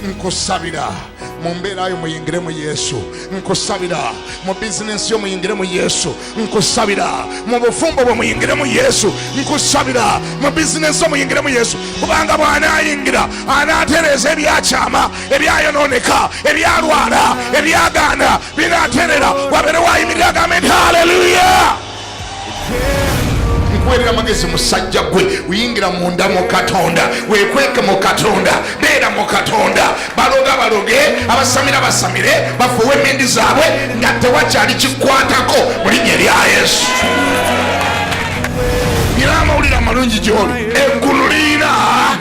nkusabira mu mbeera yo muyingire mu yesu nkusabira mu bizinensi yo muyingire mu yesu nkusabira mu bufumbo bwe muyingire mu yesu nkusabira mu bizinensi yo muyingire mu yesu kubanga bw'anaayingira anaatereeza ebyakyama ebyayonooneka ebyalwala ebyagaana binaaterera wabeerewo ayimirira agambe nti haleluya nkuweerera magezi musajja gwe uyingira munda mu katonda wekweke mu katonda beera mu katonda baloga baloge abasamira basamire bafuuwe emindi zaabwe nga tewakyali kikwatako mu linnya erya yesu nyina amawulire amalungi gyoli eggulu liina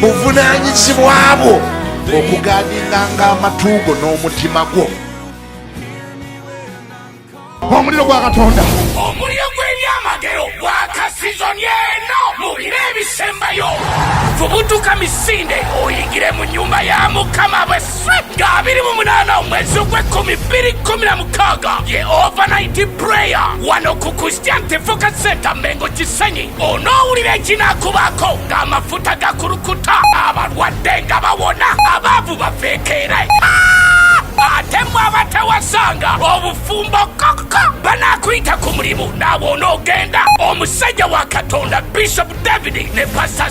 buvunanyizibwa bwo okugadinganga amatu go n'omutima gwo omuliro gwa katonda omuliro gw'ebyamagero gwa kasizoni eno mu biro ebisembayo vubutuka misinde oyingire mu nyumba ya mukama bwese nga abiri mu munana omwezi ogw'ekkumi bbiri kkumi na mukaaga ye overnight prayer wano ku christian tefoka center mengo kisenyi onoowulira ekinakubaako ng'amafuta gakulukuta abalwadde nga bawona abaavu bafeekeere ate mwe abatawasanga obufumbo kokko banaakuyita ku mulimu naawe onoogenda omusajja wa katonda bishop david ne pasta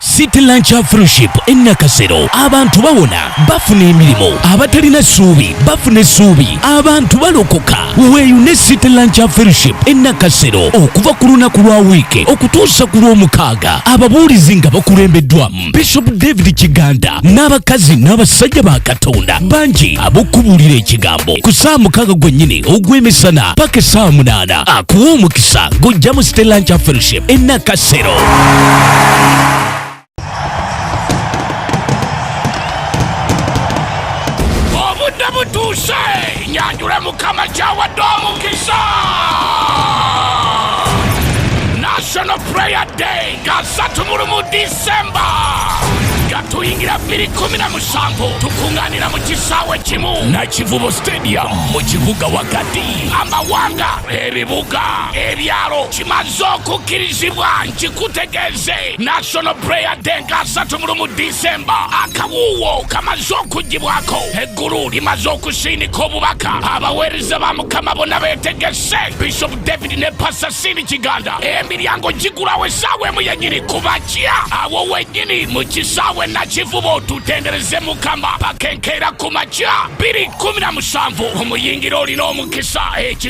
City Lunch Fellowship e Nakasero abantu bawona bafuna emirimu abatalina ssuubi bafuna essuubi abantu balokoka weeyune City Lunch Fellowship e Nakasero okuva ku lunaku lwa wiiki okutuusa ku lw'omukaaga ababuulizi nga bakulembeddwamu Bishop David Kiganda n'abakazi n'abasajja ba Katonda bangi ab'okubuulira ekigambo ku ssaawa mukaaga gwennyini ogw'emisana paka essaawa munaana akuwa omukisa gujja mu City Lunch Fellowship e Nakasero. obudde butuuse nyanjule mukama kyawadde omukisa national prayer day gasatu mulu mu disemba gatuyingira 217 tukunganira mu kisaawe kimu nakivubo stadium mu kibuga wakati amawanga ebibuga ebyalo maze okukkirizibwa nkikutegeeze national prayer day nga 3 mu lumu disemba akawuuwo kamaze okuggibwako eggulu limaze okusiinika obubaka abaweereza ba mukama bona beetegese bishop david ne pasasini kiganda emiryango gigulawo essaawa emu yennyini kubakya awo wennyini mu kisaawe nakivubo tutendereze mukama pakenkeera ku makya 217 omuyingira olina omukisa eki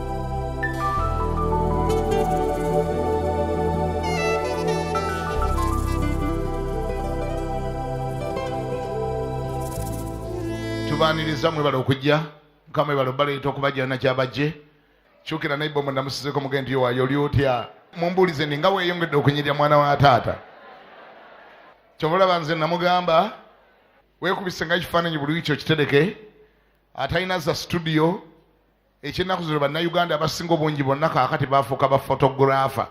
tubaniriza mwebale okujja mukama mwebale obaleeta okubajja yona kyabajje kyukira naye bomu namusizeko mugende yowayo oli otya mumbuulize ndi nga weyongedde okunyirira mwana wa taata kyova olaba nze namugamba wekubise nga ekifaananyi buli wiki okitereke atalina za situdiyo ekyennaku zino bannayuganda abasinga obungi bonna kaakati baafuuka ba fotographa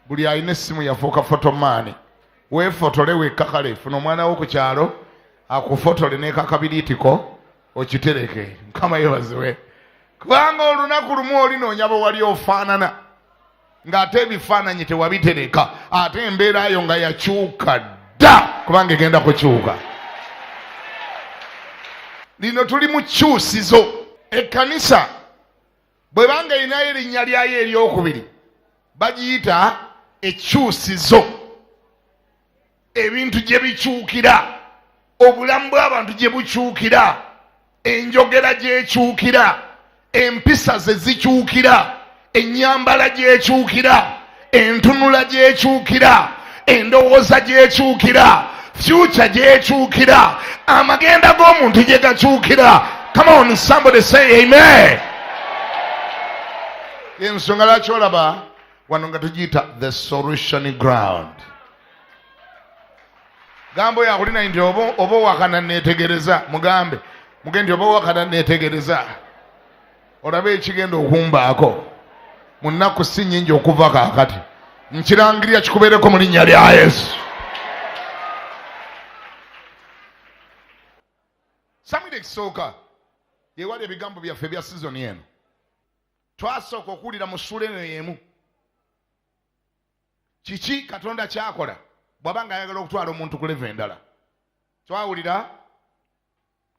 buli alina essimu yafuuka fotomaani weefotole wekka kale funa omwana wo ku kyalo akufotole nekakabiriitiko okitereke mukama yebaziwe kubanga olunaku lumu olinoonya bwe wali ofaanana ng'ate ebifaananyi tewabitereka ate embeera yo nga yakyuka dda kubanga egenda kukyuka lino tuli mu kyusizo ekkanisa bwe banga erinayo erinnya lyayo eryokubiri bagiyita ekyusizo ebintu gye bikyukira obulamu bw'abantu gye bukyukira enjogera gyekyukira empisa ze zikyukira ennyambala gyekyukira entunula gyekyukira endowooza gyekyukira fyuca gyekyukira amagenda g'omuntu gye gakyukira come on somebody say amen ensonga lwaki olaba wano nga tugiyita the solution ground gamba oyo akulina nti oba owakana netegereza mugambe muge nti oba owakana netegereza olaba ekigenda okumbaako mu nnaku si nyingi okuva kakati nkirangirira kikubeereko mu linnya lya yesu samwiri ekisooka yewali ebigambo byaffe bya sizoni eno twasooka okuwulira mu ssuula eno y'emu kiki katonda kyakola bwaba nga ayagala okutwala omuntu ku leva endala twawulira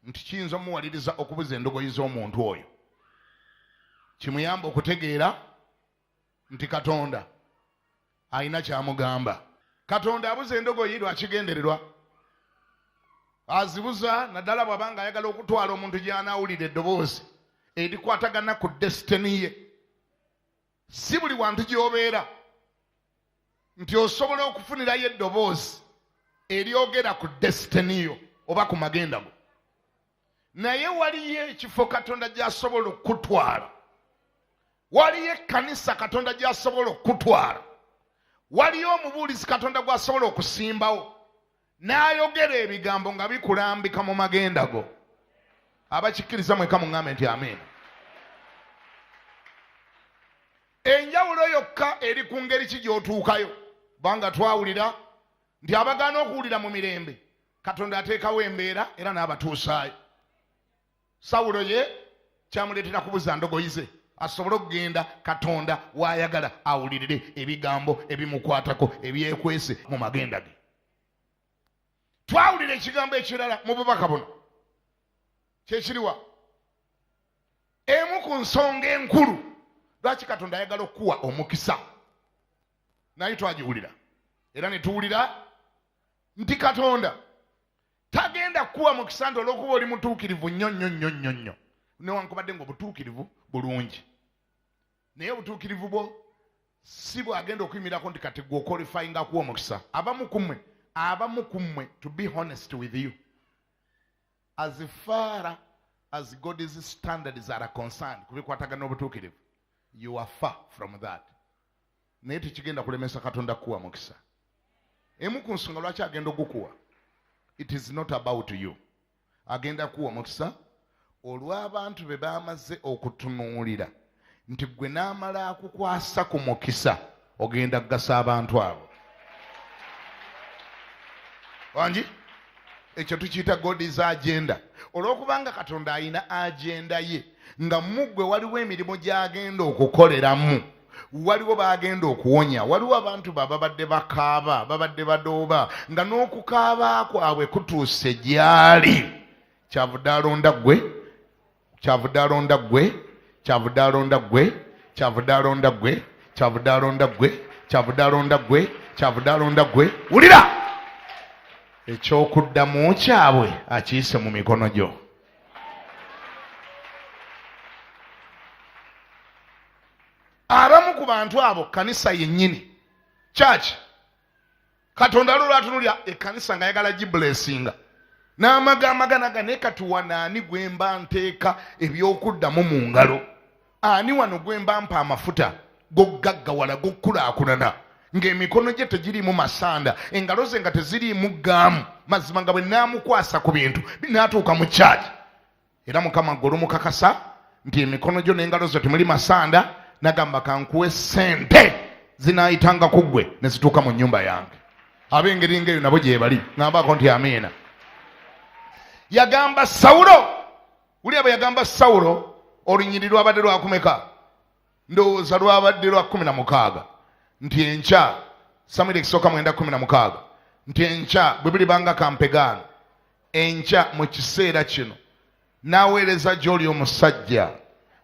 nti kiyinza omuwaliriza okubuza endogoyi z'omuntu oyo kimuyamba okutegeera nti katonda alina kyamugamba katonda abuza endogoyi lwakigendererwa azibuza naddala bwaba nga ayagala okutwala omuntu gyanawulira eddoboozi erikwatagana ku desitini ye si buli wantu gyobeera nti osobola okufunirayo eddoboozi eryogera ku desitini yo oba ku magenda go naye waliyo ekifo katonda gyasobola okukutwala waliyo ekkanisa katonda gyasobola okukutwala waliyo omubuulizi katonda gwasobola okusimbawo n'ayogera ebigambo nga bikulambika mu magenda go abakikkiriza mweka muŋambe nti amiina enjawulo yokka eri ku ngeri ki gy'otuukayo kubanga twawulira nti abagaana okuwulira mu mirembe katonda ateekawo embeera era n'abatuusaayo sawulo ye kyamuleetera kubuza ndogoyi ze asobole okugenda katonda waayagala awulirire ebigambo ebimukwatako ebyekwese mu magenda ge twawulira ekigambo ekirala mu bubaka buno kyekiriwa emu ku nsonga enkulu lwaki katonda ayagala okukuwa omukisa naye twagiwulira era netuwulira nti katonda tagenda kukuwa mukisa nti olwokuba oli mutuukirivu nnyo nnyo nnyo nnyo nnyo newankubadde nga obutuukirivu bulungi naye obutuukirivu bwo si bwagenda okuyimirako nti kati gwe okolifayinga kuwa omukisa abamu ku mmwe abamu ku mmwe to be honest with you as far as god's standards are concerned ku bikwatagana obutuukirivu you are far from that naye tekigenda kulemesa katonda kukuwa mukisa emu ku nsonga lwaki agenda okukuwa it is not about you agenda kuwa omukisa olw'abantu be bamaze okutunuulira nti gwe n'amala akukwasa ku mukisa ogenda kugasa abantu abo wangi ekyo tukiyita godis agenda olw'okubanga katonda alina agenda ye nga muggwe waliwo emirimu gy'agenda okukoleramu waliwo bagenda okuwonya waliwo abantu ba babadde bakaaba babadde badooba nga n'okukaaba kwabwe kutuuse gyali kyavudde alonda ggwe kyavudde alonda ggwe kyavudde alonda ggwe kyavudde alonda ggwe kyavudde alonda ggwe kyavudde alonda ggwe kyavudde alonda ggwe wulira ekyokuddamu kyabwe akiyise mu mikono gyo abamu ku bantu abo kanisa yennyini kyaki katonda lwo lwatunulya ekanisa nga yagala gibulesinga n'amaga amaganaga naye katuwa naani gwe mba nteeka ebyokuddamu mu ngalo ani wano gwe mba mpa amafuta gokugaggawala gokukulaakulana ng'emikono gye tegiriimu masanda engalo ze nga teziriimu gaamu mazima nga bwe naamukwasa ku bintu binaatuuka mu kyaki era mukama gwe olumukakasa nti emikono gyo n'engalo zo temuli masanda nagamba kankuwe sente zinayitanga ku gwe ne zituuka mu nnyumba yange ab'engeri ngaeyo nabo gyebali ŋambaako nti amiina yagamba sawulo wulira bwe yagamba sawulo olunyiriri lwabadde lwakumeka ndowooza lwabadde lwa kumi na mukaaga nti enkya samwiri ekisooka mwenda kumi na mukaaga nti enkya bwe bulibanga kampegaano enkya mu kiseera kino n'aweereza gy'oli omusajja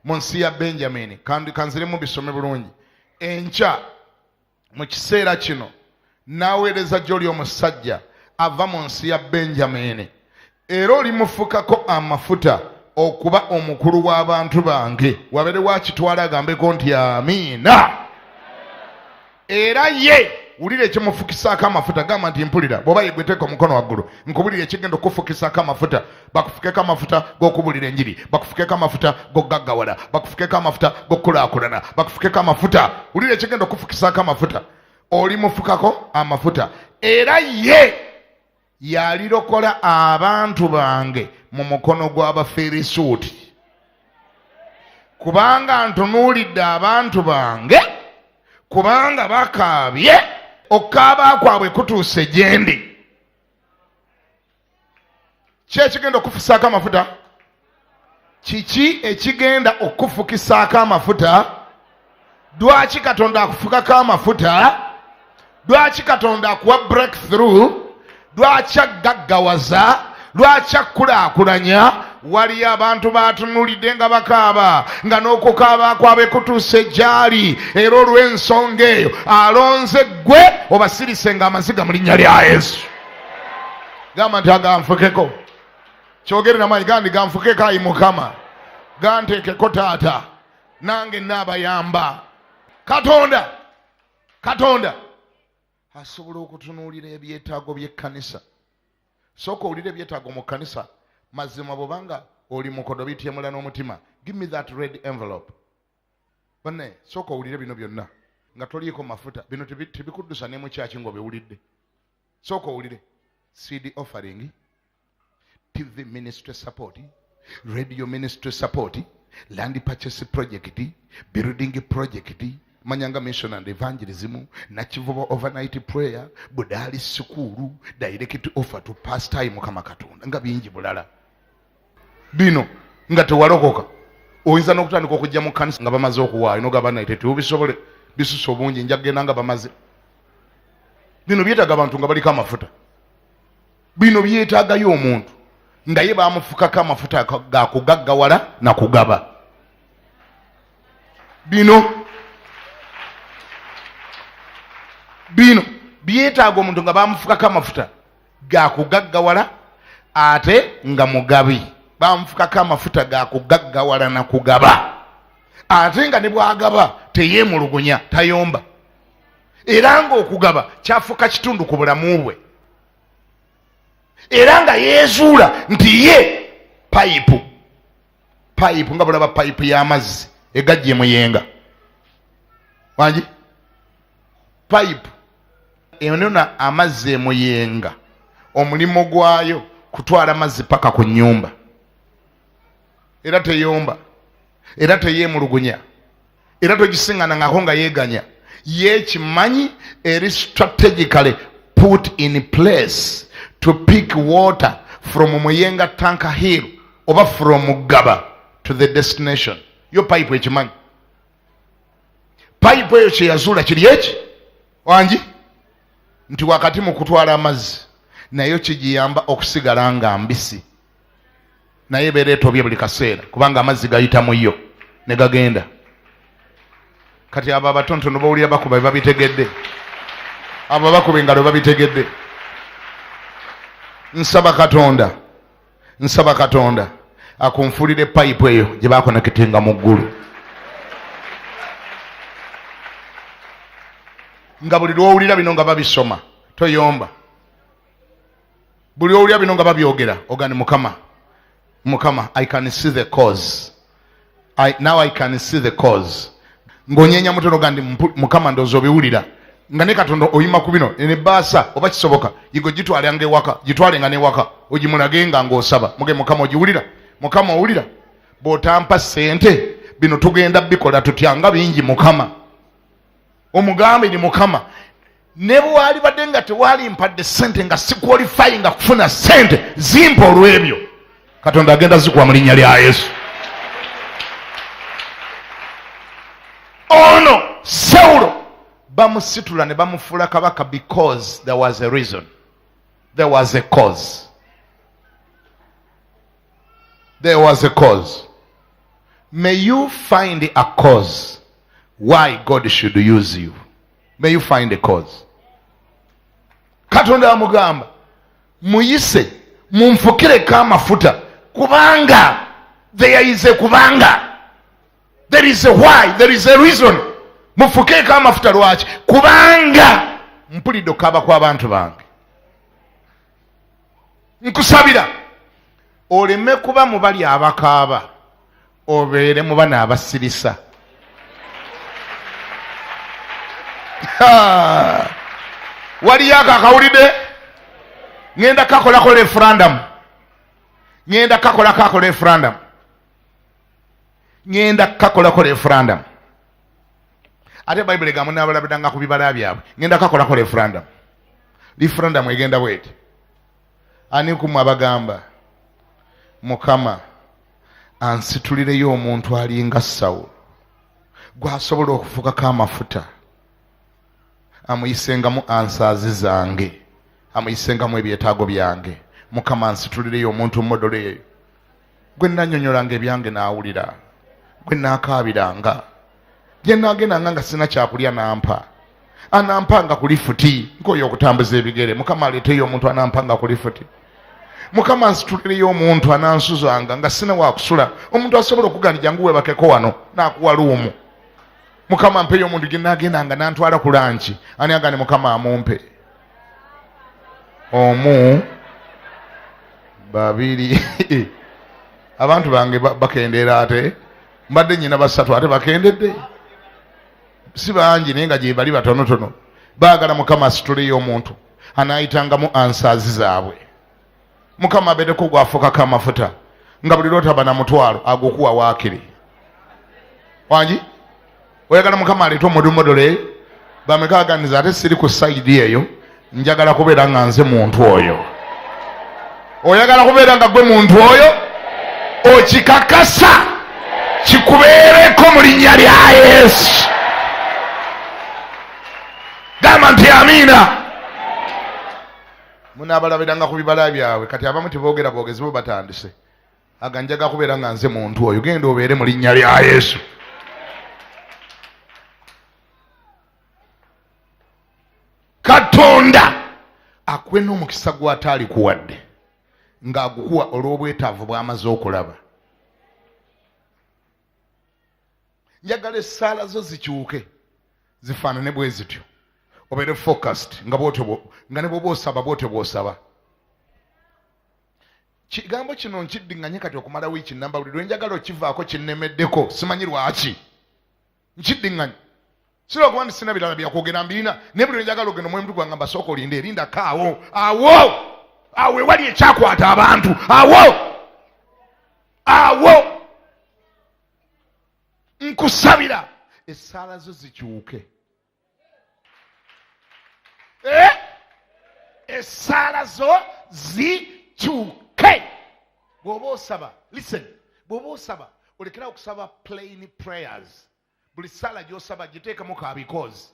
mu nsi ya benjamini kanziremu bisome bulungi enkya mu kiseera kino n'aweereza gy'oli omusajja ava mu nsi ya benjamini era olimufukako amafuta okuba omukulu w'abantu bange wabere wakitwala agambeko nti amiina era ye wulira ekimufukisaako amafuta gamba nti mpulira bwoba yegweteka omukono waggulu nkubulira ekigenda okufukisaako amafuta bakufukeko amafuta g'okubulira enjiri bakufukeko amafuta g'okugaggawala bakufukeko amafuta g'okukulaakulana bakufukeko amafuta wulira ekigenda okufukisaako amafuta oli mufukako amafuta era ye yalirokola abantu bange mu mukono gw'abafirisuuti kubanga ntunuulidde abantu bange kubanga bakaabye okukaaba kwabwe kutuuse gyendi ki ekigenda okufusaako amafuta kiki ekigenda okufukisaako amafuta lwaki katonda akufukako amafuta lwaki katonda akuwa break through lwaki aggaggawaza lwaki akkulaakulanya waliyo abantu baatunulidde nga bakaaba nga n'okukaaba kwabe kutuuse gyali era olw'ensonga eyo alonze ggwe obasirise nga amaziga mu linnya lya yesu gamba nti aganfukeko kyogere namanyi gandi ganfukeko ayi mukama gantekeko taata nange naabayamba katonda katonda asobola okutunuulira ebyetaago byekkanisa sooka owulira ebyetaago mu kkanisa mazima bwobanga oli mukodo bityemula n'omutima give me that red envelope banne sooka owulire bino byonna nga toliiko mafuta bino tebikuddusa nemukyaki ngaobiwulidde sooka owulire cd offering tv ministry support radio ministry support land purchase project building project manyanga mission and evangelism nakivuba overnight prayer budaali sikuulu direct offer to pastime kama katonda nga bingi bulala bino nga tewalokoka oyinza n'okutandika okujja mu kanisa nga bamaze okuwaayo nogamba naye tetubisobole bisusa obungi nja kugenda nga bamaze bino byetaaga abantu nga baliko amafuta bino byetaagayo omuntu naye bamufukako amafuta gakugaggawala nakugaba bino bino byetaaga omuntu nga bamufukako amafuta gakugaggawala ate nga mugabi bamufukako amafuta gakugaggawala na kugaba ate nga ne bwagaba teyemulugunya tayomba era ngaokugaba kyafuuka kitundu ku bulamu bwe era nga yeezuula nti ye payipu payipu nga bulaba payipu y'amazzi egajje muyenga wangi payipu enona amazzi emuyenga omulimu gwayo kutwala mazzi paka ku nyumba era teyomba era teyemulugunya era togisingana ngako nga yeganya yekimanyi eri strategically put in place to pick water from muyenga tanka hill oba from gaba to the destination yo pipe ekimanyi payipu eyo kyeyazuula kiri eki wangi nti wakati mu kutwala amazzi nayo kigiyamba okusigala nga mbisi naye ebeera etobye buli kaseera kubanga amazzi gayita mu yo ne gagenda kati abo abatontono bawulira bakuba bebabitegedde abo bakuba engalo babitegedde nsaba katonda nsaba katonda akunfulire payipu eyo gye bakonekitinga mu ggulu nga buli lwowulira bino nga babisoma toyomba buli owulira bino nga babyogera ogani mukama mukama i can see the cause I, now i can see the cause ngonyenya mutono gandi mukama ndozo biwulira nga ne katonda oyima ku bino ene baasa oba kisoboka yigo gitwala nga ewaka gitwale nga newaka ogimulage nga ngaosaba muge mukama ogiwulira mukama owulira bwotampa sente bino tugenda bikola tutya nga bingi mukama omugambe ni mukama ne bwalibadde nga tewaali mpadde sente nga sikwalifayi nga kufuna sente zimpa olw'ebyo katonda agenda zikuwa mu linnya lya yesu ono sewulo bamusitula ne bamufuula kabaka because there was a reason there was a cause There was a cause. May you find a cause why God should use you. May you find a cause. Katonda amugamba muyise munfukireko amafuta kubanga there is a kubanga there is a why there is a reason mufukeeko amafuta lwaki kubanga mpulidde okukaaba kw'abantu bange nkusabira oleme kuba mu bali abakaaba obeere mu bana abasirisa waliyo ako akawulidde ŋenda kakolako referandamu ŋenda kakolako ako referandamu ŋenda kukakolako referendum ate bayibuli egamu nabalabidanga ku bibala byabwe ŋenda kukakolako referendum referendum egenda bweti ani kumwe abagamba mukama ansitulireyo omuntu alinga sawulo gwasobola okufukako amafuta amuyisengamu ansaazi zange amuyisengamu ebyetaago byange mukama nsitulireyo omuntu modoleeyo gwe nanyonyolanga ebyange n'awulira gwe naakaabiranga gye naagendanga nga sirina kyakulya nampa anampanga ku lifuti nkoyo okutambuza ebigere mukama aleeteyo omuntu anampanga ku lifuti mukama nsitulireyo omuntu anansuzanga nga sirina wakusula omuntu asobola okugandi jangu webakeko wano nakuwa luumu mukama mpeyo omuntu gye naagendanga nantwala ku lanki ani agandi mukama amumpe omu babiri abantu bange bakendeera ate mbadde nyina basatu ate bakendedde si bangi naye nga gyebali batonotono baagala mukama asituleyo omuntu anaayitangamu ansaazi zaabwe mukama abeereko gwafukako amafuta nga buli lwotaba na mutwalo agukuwa waakiri wangi oyagala mukama aleeta omudumodole eyo bamekaganiza ate siri ku sayidi eyo njagala kubeera nga nze muntu oyo oyagala kubeera nga gwe muntu oyo okikakasa kikubeereko mu linnya lya yesu gamba nti amiina munaabalabiranga ku bibala byabwe kati abamu teboogera boogezi bo batandise aga njaga kubeera nga nze muntu oyo genda obeere mu linnya lya yesu katonda akuwe n'omukisa gw'ataali kuwadde ng'agukuwa olw'obwetaavu bw'amaze okulaba njagala essaala zo zikyuke zifaanane bwe zityo obeere focast nga bwotyo nga ne bwoba osaba bwotyo bwosaba kigambo kino nkiddiŋŋanye kati okumala wiiki namba buli lwe njagala okivaako kinnemeddeko simanyi lwaki nkiddiŋŋanye sira okuba nti sina birala byakwogera mbirina naye buli lwe njagala ogenda omwoyo mutugwanga mbasooka olinde erinda kaawo awo awo ewali ekyakwata abantu awo awo nkusabira esaala zo zikyuke eh? esaala zo zikyuke bwoba osaba listen bwoba osaba olekerawo okusaba plain prayers buli saala gyosaba giteekamu ka because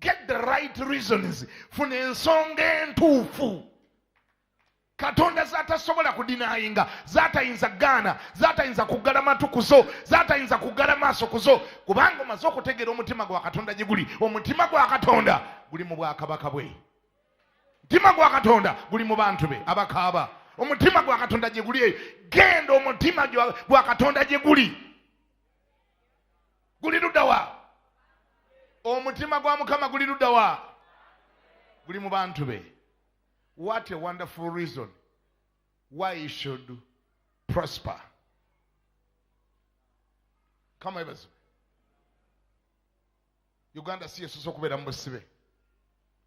get the right reasons funa ensonga entuufu katonda zatasobola kudinayinga zatayinza gaana zatayinza kuggala matu kuzo zatayinza kuggala maaso kuzo kubanga omaze okutegeera omutima gwa katonda gye guli omutima gwa katonda guli mu bwakabaka bwe mutima gwa katonda guli mu bantu be abakaaba omutima gwa katonda gye guli eyo genda omutima gwa katonda gye guli guli ludawa omutima gwa mukama guli ludawa guli mu bantu be what a wonderful reason why you should prosper kama ebazo uganda si yesusa okubeera mu busibe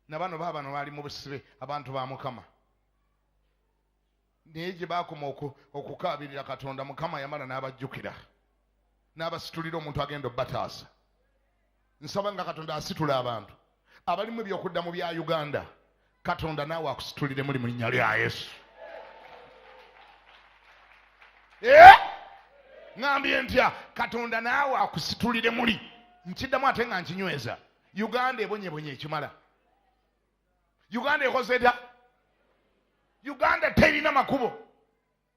nabano baabano baali mu busibe abantu ba mukama naye gye baakoma okukaabirira katonda mukama yamala n'abajjukira n'abasitulira omuntu agenda obataasa nsaba nga katonda asitula abantu abalimu ebyokudda mu bya uganda katonda naawe akusitulire muli mu linnya lya yesu eh? ŋambye ntya katonda naawe akusitulire muli nkiddamu ate nga nkinyweza uganda ebonyebonye ekimala uganda ekozeda uganda terina makubo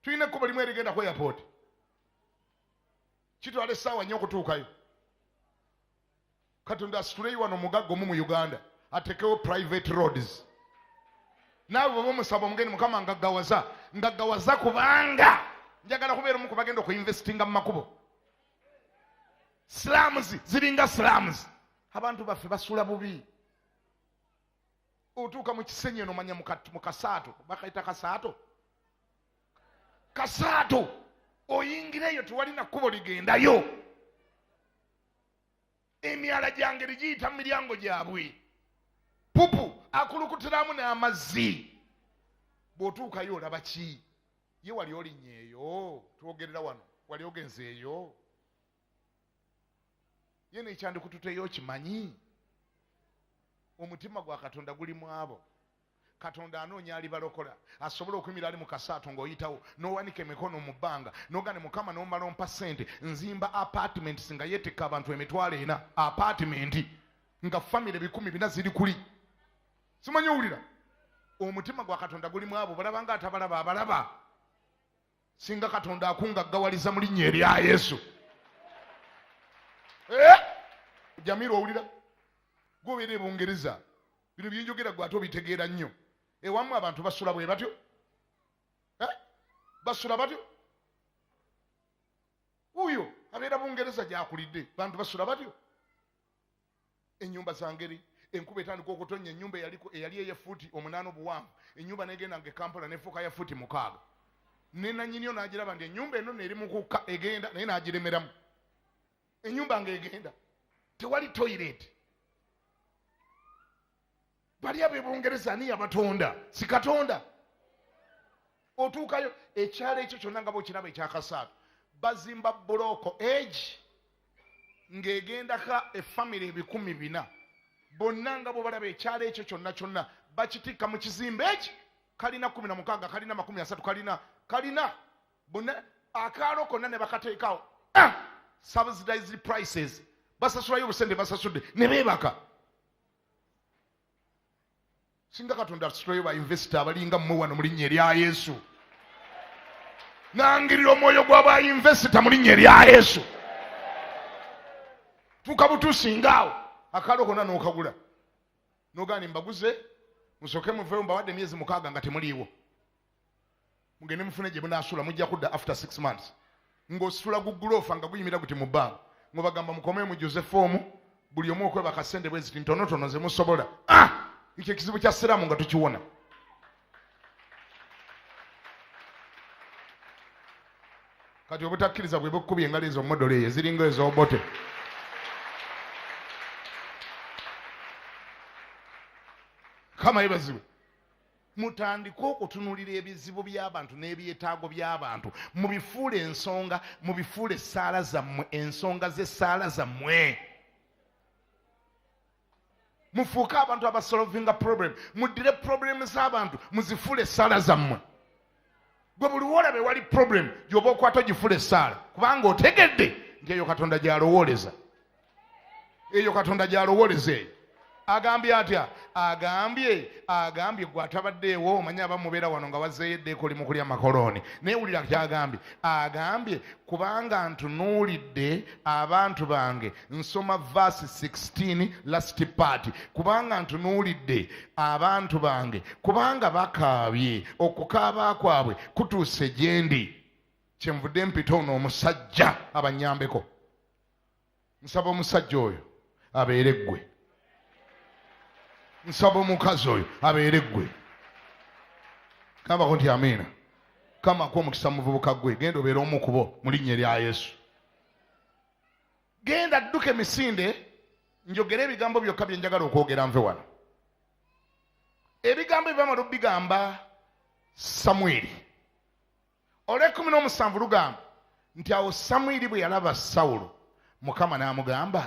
tulina ekkubo limu erigenda ku airport kitwala essaawa nnyo okutuukayo katonda asituleyo wano omugagga omu mu uganda atekewo private roads naawe baba omusaba omugeni mukama ngaggawaza ngaggawaza kubanga njagala kubeera omu kubagenda okuinvestinga mu makubo slams ziringa slams abantu baffe basula bubi otuuka mu kisenyi eno manya mu kasaato bakaita kasaato kasaato oyingireyo tewalina kkubo ligendayo emyala gyangeri giyita mu miryango gyabwe pupu akulukutiramu n'amazzi bw'otuukayo olaba ki ye wali olinyeeyo twogerera wano wali ogenzeeyo ye nekyandikututeyo okimanyi omutima gwa katonda guli mu abo katonda anoonya alibalokola asobola okwimira ali mukasaato ngaoyitawo nowanika emikono mu bbanga nogane mukama nomala ompa sente nzimba apartments nga yetikka abantu emitwalo ena apartment nga famiry bikumi bina ziri kuli simanyi owulira omutima gwa katonda gulimu abo balabanga atabalaba abalaba singa katonda akungaggawaliza mu linnya erya yesu eh? jamiru owulira gwobeera e bungereza bino byenjogera gwe ate obitegeera nnyo ewamu abantu basula bwe batyo eh? basula batyo wuyo abeera bungereza gyakulidde bantu basula batyo enyumba zangeri enkuba etandika okutonya enyumba eyali eye futi omunaana obuwanvu enyumba negenda nga ekampala nefuuka ya futi mukaaga nenanyiniyo nagiraba nti enyumba eno neri mukukka egenda naye nagiremeramu enyumba nga egenda tewali toilet bali abebungereza ani yabatonda sikatonda otuukayo ekyalo ekyo kyonna nga bwekiraba ekyakasaatu bazimba bulooko egi ng'egendako efamiry ebikumi bina bonna nga bwe balaba ekyalo ekyo kyonna kyonna bakitikka mu kizimba eki kalina kumi na mukaaga kalina makumi asatu kalina kalina bonna akaalo konna ne bakateekawo ah! subsidized prices basasulayo obusente basasudde ne beebaka singa katonda asitoyo bainvesita abalinga mmwe wano mu linnya erya yesu nangirira omwoyo gwa bainvesita mu linnya erya yesu tuuka butuusingaawo akaalo kona n'okagula nogaani mbaguze musooke muveewo mbawadde emyezi mukaaga nga temuliiwo mugende mufune gye munaasula mujja kudda after six months ng'osula guguloofa nga guyimira guti mu bbanga ngobagamba mukomee mu josefu omu buli omu okwebaka sente bwe ziti ntonotono ze musobola ah! ekyo ekizibu kya siraamu nga tukiwona kati obutakkiriza bwe bukubye engali ezo modolo eyo eziringa ezobote kama yebaziwe mutandike okutunulira ebizibu by'abantu n'ebyetaago by'abantu mubifuule ensonga mubifuule essaala zammwe ensonga z'essaala zammwe mufuuke abantu abasolovinga problem muddire problemu z'abantu muzifuule essaala zammwe gwe buli woolaba ewali problem gyoba okwata ogifula essaala kubanga otegedde nti eyo katonda gyalowooleza eyo katonda gyalowooleza eyo agambye atya agambye agambye gwe atabaddeewo omanye abamubeera wano nga wazeeyo eddeeko oli mukulya makolooni naye wulira kyagambye agambye kubanga ntunuulidde abantu bange nsoma vaasi 16 lasiti paati kubanga ntunuulidde abantu bange kubanga bakaabye okukaaba kwabwe kutuuse gye ndi kyenvudde mpita ono omusajja abanyambeko nsaba omusajja oyo abeere ggwe nsaba omukazi oyo abeere ggwe kambako nti amiina kama ku omukisa muvubuka gwe genda obeere omu kubo mu linnya erya yesu genda dduka emisinde njogere ebigambo byokka bye njagala okwogera nve wano ebigambo ebyamala obigamba samwiri olwekumi n'omusanvu lugamba nti awo samwiri bwe yalaba sawulo mukama n'amugamba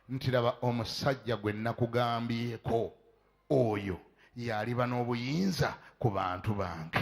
nti laba omusajja gwe nakugambyeko oyo yaliba n'obuyinza ku bantu bange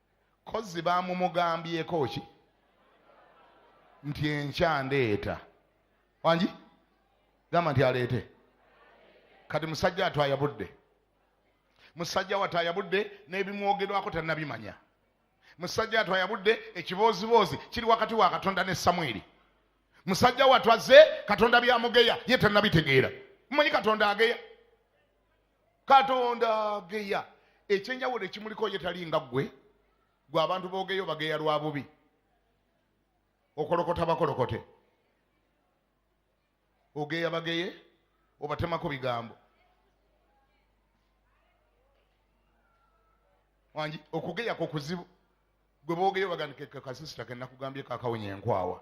kozi bamumugambyeko ki nti enkya ndeeta wangi gamba nti aleete kati musajja atwaya budde musajja wataya budde n'ebimwogerwako tanabimanya musajja atwaya budde ekibooziboozi kiri wakati wa katonda ne samwiri musajja watwaze katonda byamugeya ye tanabitegeera mumanyi katonda ageya katonda ageya ekyenjawulo ekimuliko ye tali nga ggwe gwe abantu boogeyo bageya lwa bubi okolokota bakolokote ogeya bageye obatemako bigambo wangi okugeya ku kuzibu gwe boogeyo bagandikekakasisita kenakugambye kakawunya enkwawa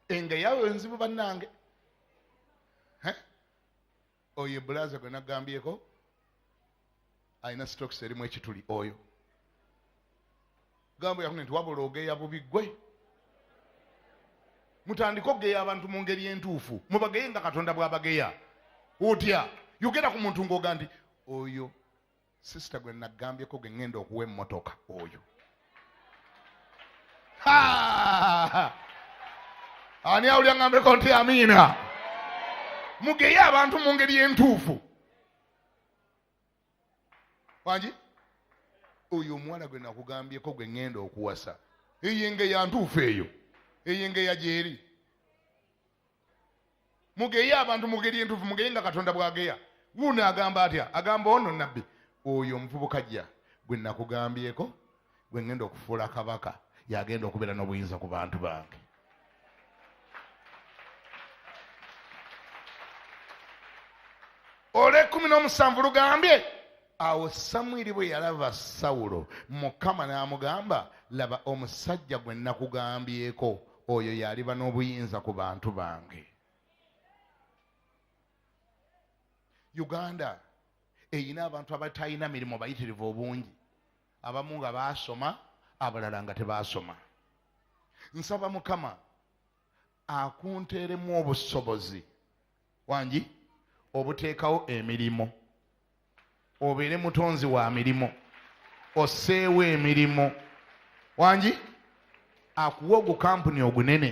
enga yawe nzibu banange oyo ebulaza gwe nagambyeko alina stokes erimu ekituli oyo gambo yakune nti wabula ogeya bubi gwe mutandike okugeya abantu mu ngeri entuufu mubageye nga katonda bwabageya otya yogera ku muntu ngaoga nti oyo sisita gwe nagambyeko gwe ŋŋenda okuwa emmotoka oyo ani awulya ŋambeko nti amiina mugeye abantu mu ngeri entuufu wangi oyo omuwala gwe nakugambyeko gwe ŋŋenda okuwasa eyo engeya ntuufu eyo eyo engeya gyeri mugeye abantu mugeri entuufu mugeye nga katonda bwageya wuuno agamba atya agamba ono nabbi oyo omuvubuka jja gwe nakugambyeko gwe ngenda okufuula kabaka yagenda okubeera n'obuyinza ku bantu bange olwekumi n'omusanvu lugambye awo samwiri bwe yalaba sawulo mukama n'amugamba laba omusajja gwe nakugambyeko oyo yaliba n'obuyinza ku bantu bange uganda eyina abantu abatalina mirimu bayitirivu obungi abamu nga baasoma abalala nga tebaasoma nsaba mukama akunteeremu obusobozi wangi obuteekawo emirimu obeere mutonzi wa mirimu oseewo emirimu wangi akuwe ogukampuni ogunene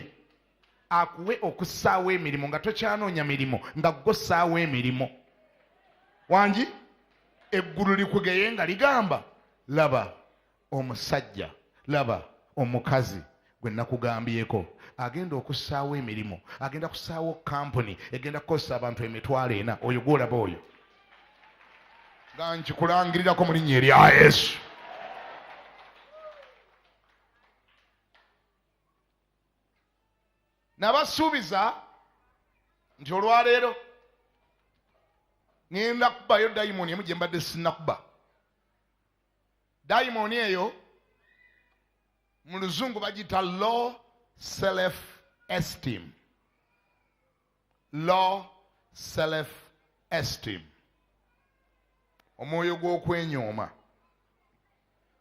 akuwe okusaawo emirimu nga tokyanoonya mirimu nga gosaawo emirimu wangi eggulu likugeye nga ligamba laba omusajja laba omukazi gwe nakugambyeko agenda okusaawo emirimu agenda kusaawo kampuni egenda kukozesa abantu emitwalo ena oyo gwolaba oyo nga nkikulangirirako mu linnya erya yesu nabasuubiza nti olwaleero ngenda kubayo dayimoni emu gye mbadde sinakuba dayimooni eyo mu luzungu bagiyita low self esteem low self esteem omwoyo gw'okwenyooma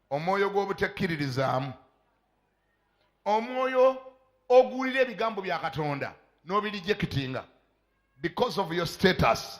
omwoyo gw'obutekkiririzaamu omwoyo oguwulira ebigambo bya katonda n'obirijekitinga because of your status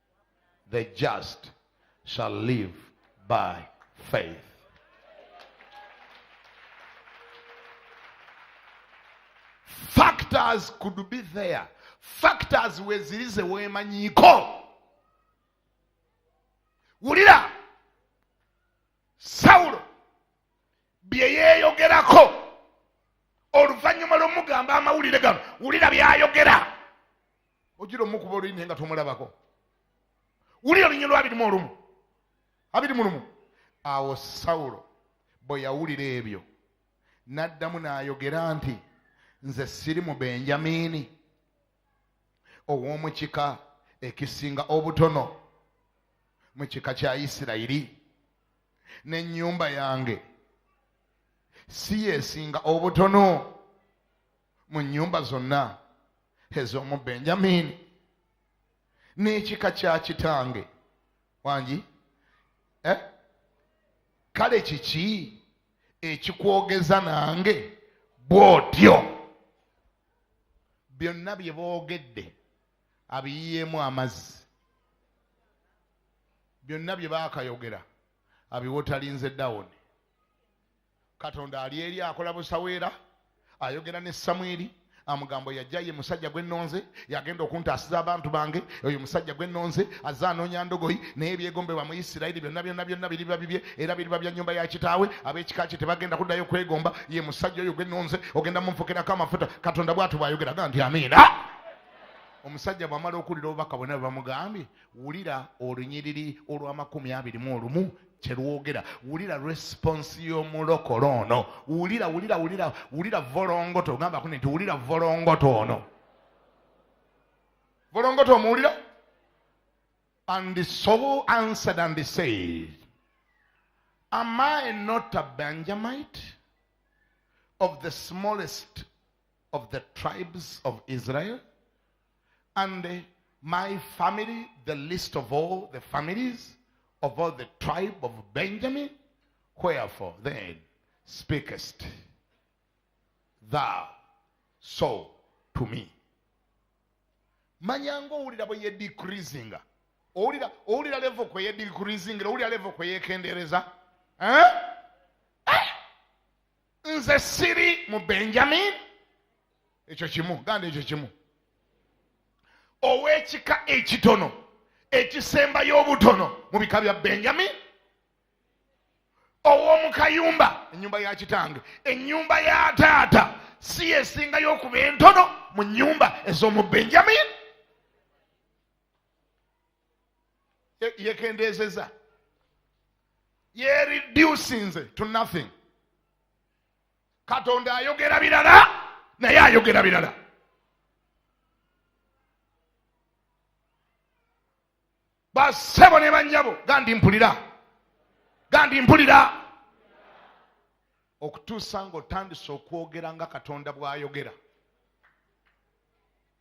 the just shall live by faith. Factors could be there. Factors weziri ze weemanyiiko. Wulira Sawulo bye yeeyogerako oluvannyuma lw'omugamba amawulire gano wulira by'ayogera. ojira omukuba oluyi naye nga tomulabako wulira olunyonyi lwabirimu olumu abiri mu lumu awo sawulo bwe yawulira ebyo n'addamu n'ayogera nti nze siri mu benjamiini ow'omu kika ekisinga obutono mu kika kya isirayiri n'ennyumba yange si yesinga obutono mu nnyumba zonna ez'omu benjamini n'ekika kya kitange wangi eh? kale kiki ekikwogeza nange bw'otyo byonna bye boogedde abiyiyeemu amazzi byonna bye baakayogera abiwotalinze dawuni katonda ali eri akola busaweera ayogera ne samwiri amugambo yajja ye musajja gwe nonze yagenda okuntaasiza abantu bange oyo musajja gwe nonze azze anoonya ndogoyi naye ebyegombebwa mu isirayiri byonna byonna byonna biriba bibye era biriba bya nyumba ya kitaawe ab'ekika kye tebagenda kuddayo kwegomba ye musajja oyo gwe nonze ogenda mumfukirako amafuta katonda bwatu bwayogera ga nti amiina omusajja bwamala okuwulira obubaka bwonna bwe bamugambye wulira olunyiriri olw'amakumi abiri mu olumu kyelwogera wulira response y'omulokole ono wulira wulira wulira wulira volongoto ogamba kune nti wulira volongoto ono volongoto omuwulira and the soul answered and the said am i not a benjamite of the smallest of the tribes of israel And uh, my family, the least of all the families of all the tribe of Benjamin, wherefore then speakest thou so to me manya ngaowulira bwe yedikrisinga owulira owulira levo kwe yedikrisingira owulira levo kwe yekendereza eh? nze siri mu benjamin ekyo kimu ganda ekyo kimu ow'ekika ekitono ekisembayo obutono mu bika bya benjamin ow'omu kayumba ennyumba ya kitange ennyumba ya taata si yesingayo okuba entono mu nnyumba ez'omu benjamin yekendeezeza yereducinze to nothing katonda ayogera birala naye ayogera birala basebo ne banyabo gandi mpulira gandi mpulira okutuusa ngaotandise okwogera nga katonda bwayogera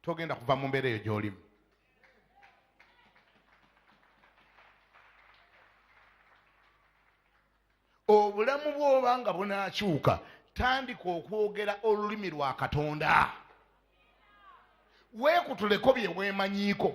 togenda kuva mu mbeera eyo gy'olimu obulamu bwoba nga bunaakyuka tandika okwogera olulimi lwa katonda weekutuleko bye weemanyiiko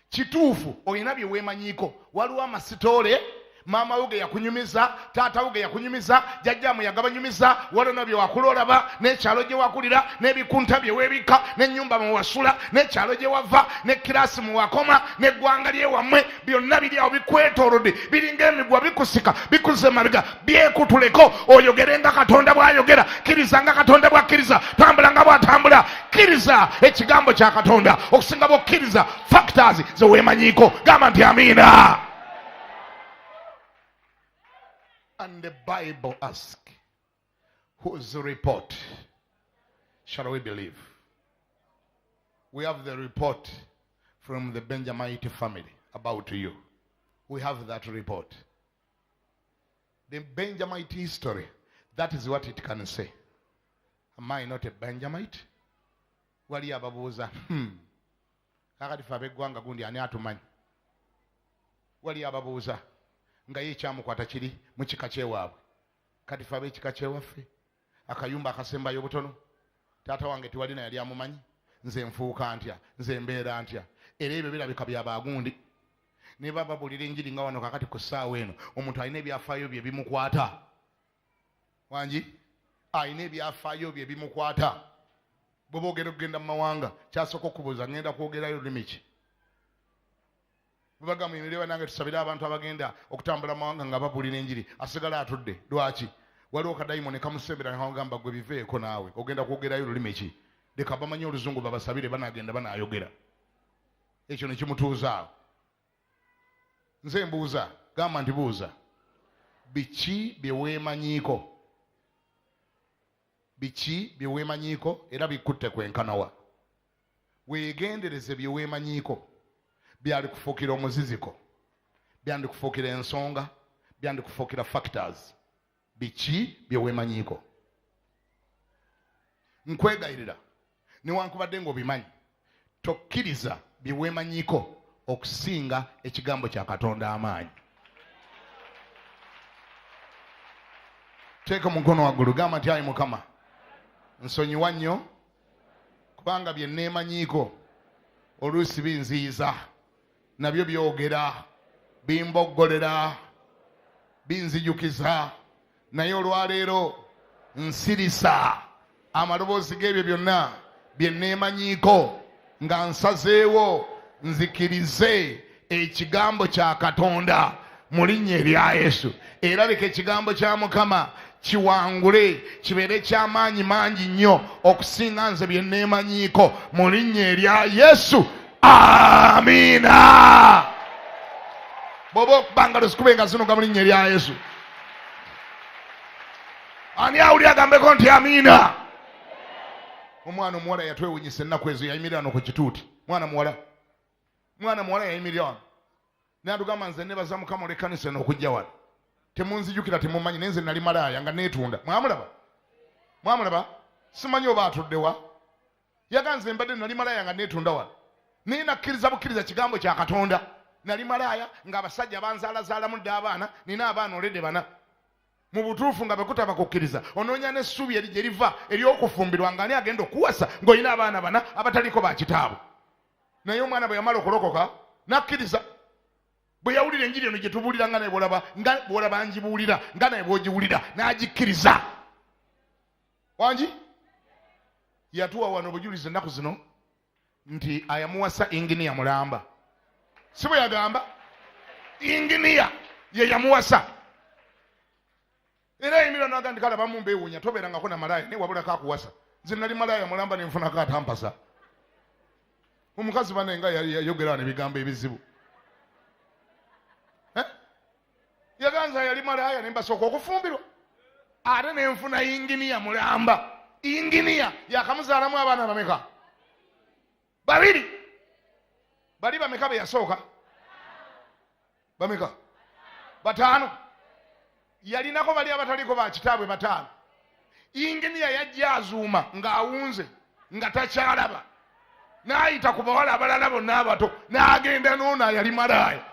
kituufu olina bye weemanyiiko waliwo amasitoole maama wo ge yakunyumiza taata wo ge yakunyumiza jajjaamu yagabanyumiza walona bye wakula olaba n'ekyalo gye wakulira n'ebikunta bye weebikka n'ennyumba mwe wasula n'ekyalo gye wava ne kiraasi mwe wakoma n'eggwanga lye wammwe byonna biri awo bikwetoolodde biringa emigwa bikusika bikuze emabega byekutuleko oyogere nga katonda bwayogera kiriza nga katonda bwakkiriza tambula nga bwatambula kiriza ekigambo kya katonda okusinga bwokkiriza factors zewemanyiiko gamba nti amiina and the bible ask whose report shall we believe we have the report from the benjamite family about you we have that report The Benjamite history, that is what it can say. Am I not a Benjamite? Wali ababuuza, hmm. Kakati fe ab'eggwanga gundi ani atumanyi? Wali ababuuza nga ye ekyamukwata kiri mu kika kyewaabwe. Kati fe ab'ekika kyewaffe akayumba akasembayo obutono taata wange tiwalina yali amumanyi nze nfuuka ntya nze mbeera ntya era ebyo birabika byabagundi naye baba babuulira enjiri nga wano kakati ku ssaawa eno omuntu alina ebyafaayo bye bimukwata wangi alina ebyafaayo bye bimukwata bwe boogera okugenda mu mawanga kyasooka okubuuza ngenda kwogerayo lulimi ki bwebaga muyimire banange tusabire abantu abagenda okutambula mu mawanga nga babuulira enjiri asigala atudde lwaki waliwo kadayimoni kamusembera nagamba gwe biveeko naawe ogenda kwogerayo lulimi ki leka bamanye oluzungu babasabire banagenda banayogera ekyo ne kimutuuzaawo nze mbuuza gamba nti buuza biki bye weemanyiiko biki bye weemanyiiko era bikutte kwenkanawa weegendereze bye weemanyiiko byalikufuukira omuziziko byandikufuukira ensonga byandikufuukira factors biki byewemanyiiko nkwegayirira newankubadde ngaobimanyi tokkiriza byewemanyiiko okusinga ekigambo kya katonda amaanyi teeka omukono waggulu gamba nti ayi mukama nsonyiwa nnyo kubanga bye neemanyiiko oluusi binziyiza nabyo byogera bimboggolera binzijukiza naye olwaleero nsirisa amaloboozi g'ebyo byonna bye neemanyiiko nga nsazeewo nzikirize ekigambo kya katonda mu linnya erya yesu era leka ekigambo kya mukama kiwangule kibeere eky'amaanyi mangi nnyo okusinga nze bye neemanyiiko mu linnya erya yesu amiina bwoba okubanga luzikube nga zinuga mu linnya erya yesu ani awuli agambeko nti amiina omwana omuwala yatwewunyisa ennaku ezo yayimirira no ku kituuti mwana muwala mwana muwala yayimirira wano natugamba nze nebaza mukama olekanisa eno okujja wano temunzijukira temumanyi naye nze nali malaaya nga netunda mwamulaba mwamulaba simanyi oba atuddewa yaganze mbadde nali malaaya nga netunda wano naye nakkiriza bukkiriza kigambo kya katonda nali malaaya nga abasajja banzaalazaalamu dde abaana nina abaana olede bana mu butuufu nga bwekutaba kukkiriza onoonya n'essuubi eri gye liva ery'okufumbirwa nga ani agenda okuwasa ng'olina abaana bana abataliiko ba kitaabwe naye omwana bwe yamala okulokoka nakkiriza bwe yawulira enjiri eno gyetubuulira nga naye bwolaba nga bwolaba ngibuulira nga naye bwogiwulira n'agikkiriza wangi yatuwa wano obujulizi ennaku zino nti ayamuwasa inginiya mulamba si bwe yagamba inginiya ye yamuwasa era yayimira naga ndi kale abamu mbeewuunya tobeerangako na malaaya naye wabulako akuwasa nze nali malaaya mulamba ne nfunako atampasa omukazi bane nga yayogera wano ebigambo ebizibu eh? yaganza yali malaaya ne mbasooka okufumbirwa ate ne nfuna inginiya mulamba inginiya yakamuzaalamu abaana bameka babiri bali bameka beyasooka bameka bataano yalinako bali abataliko bakitaabwe bataano inginiya yajja azuuma ng'awunze nga takyalaba n'ayita ku bawala abalala bonna abato n'agenda noono ayali malaaya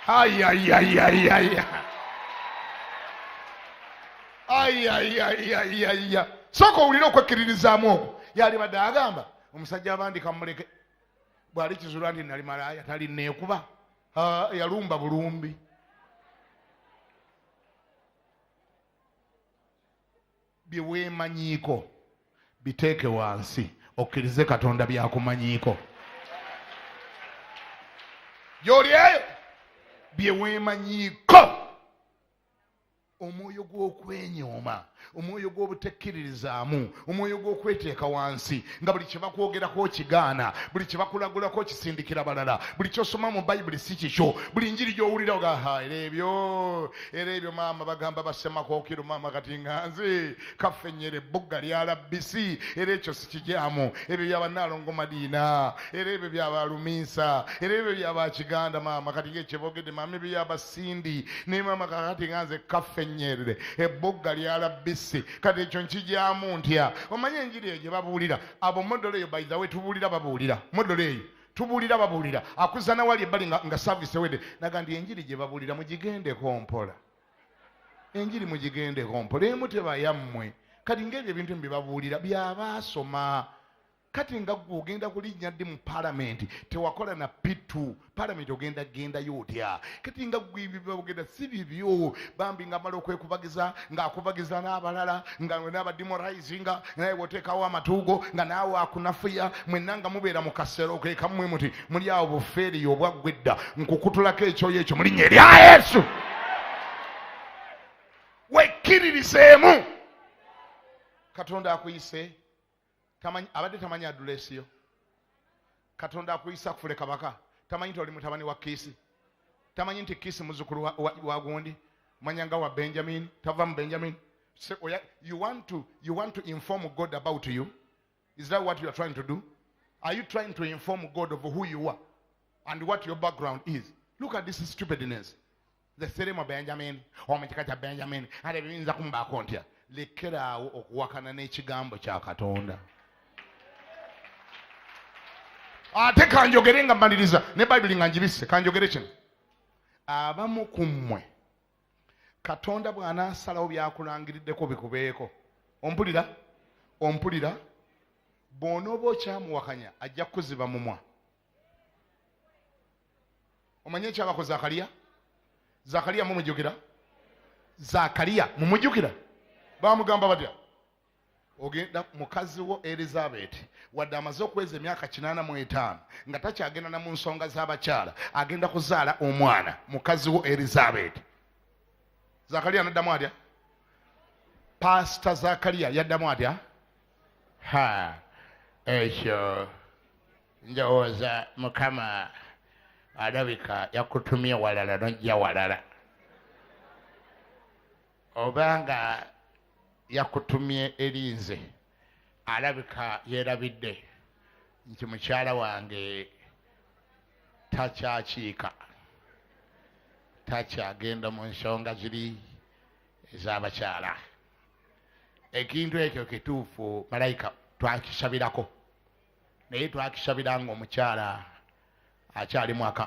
ayayayayaya ayayayayaya sooka owulire okwekkiririzaamu okwo yalibadde agamba omusajja abandi kamuleke bwali kizulwa nti nali malaaya tali neekuba yalumba bulumbi byeweemanyiiko biteeke wansi okkirize katonda byakumanyiiko gyoli eyo byeweemanyiiko omwoyo gw'okwenyooma omwoyo gw'obutekkiririzaamu omwoyo gw'okweteeka wansi nga buli kye bakwogerako okigaana buli kye bakulagulako okisindikira balala buli kyosoma mu bayibuli si kikyo buli njiri gy'owulira ogaha era ebyo era ebyo maama bagamba basemakookiro maama kati nga nze kaffe nyera ebbugga lyalabbisi era ekyo sikigyamu ebyo byabanaalongo madiina era ebyo byabaluminsa era ebyo byabakiganda maama kati ngaekyebogedde maama ebyo yabas sindi naye maama kakati nga nze kaffe nyerere ebbugga lyalabbisi kati ekyo nkijamu ntya omanyi enjiri eyo gye babuulira abo modolo eyo by the way tubuulira babuulira modolo eyo tubuulira babuulira akuzana wali ebbali nga, nga service ewedde naga ndi enjiri gye babuulira mugigendeko mpola enjiri mugigendeko mpola emu tebayammwe kati ngaebyo ebintu byebabuulira byabaasoma kati nga gwe ogenda kulinnya ddi mu palamenti tewakola na pitu palamenti ogenda gendayo otya kati nga gwebibogenda si bibyo bambi nga mala okwekubagiza ng'akubagiza n'abalala nga n'abadimorizinga naye woteekawo amatuugo nga naawe akunafuya mwenna nga mubeera mu kasero kekamwe muti muli awo bufeeriyo obwaggwa edda nkukutulako ekyoyo ekyo mulinnya erya yesu wekkiririzeemu katonda akuyise abadde tamanyi aduleesi yo katonda akuyisa kufule kabaka tamanyi nti oli mutabani wa kiisi tamanyi nti kiisi muzukulu wa gundi manya nga wa benjamin tava mu benjamin so, oh yeah, you, want to, you want to inform god about you is that what you are trying to do are you trying to inform god of who you are and what your background is look at this stupidness nze siri mu benjamini omu kika kya benjamini ate biyinza kumubaako ntya lekeraawo okuwakana n'ekigambo kya katonda ate kanjogere nga mmaliriza ne bayibuli nga njibisse kanjogere kino abamu ku mmwe katonda bw'anaasalawo byakulangiriddeko bikubeeko ompulira ompulira bw'onooba okyamuwakanya ajja kukuziba mumwa omanye ekyabako zakaliya zakaliya mumujukira zakaliya mumujukira bamugamba batya ogenda mukazi wo elizabeti wadde amaze okweza emyaka kinana mu etaano nga takyagenda na mu nsonga z'abakyala agenda kuzaala omwana mukazi wo elizabeti zakaliya naddamu atya paasita zakaliya yaddamu atya ha ekyo ndowooza mukama alabika yakutumye walala nojja walala oba nga yakutumye eri nze alabika yeerabidde nti mukyala wange takyakiika takyagenda mu nsonga ziri ez'abakyala ekintu ekyo kituufu malayika twakisabirako naye twakisabira ngaomukyala akyali mwaka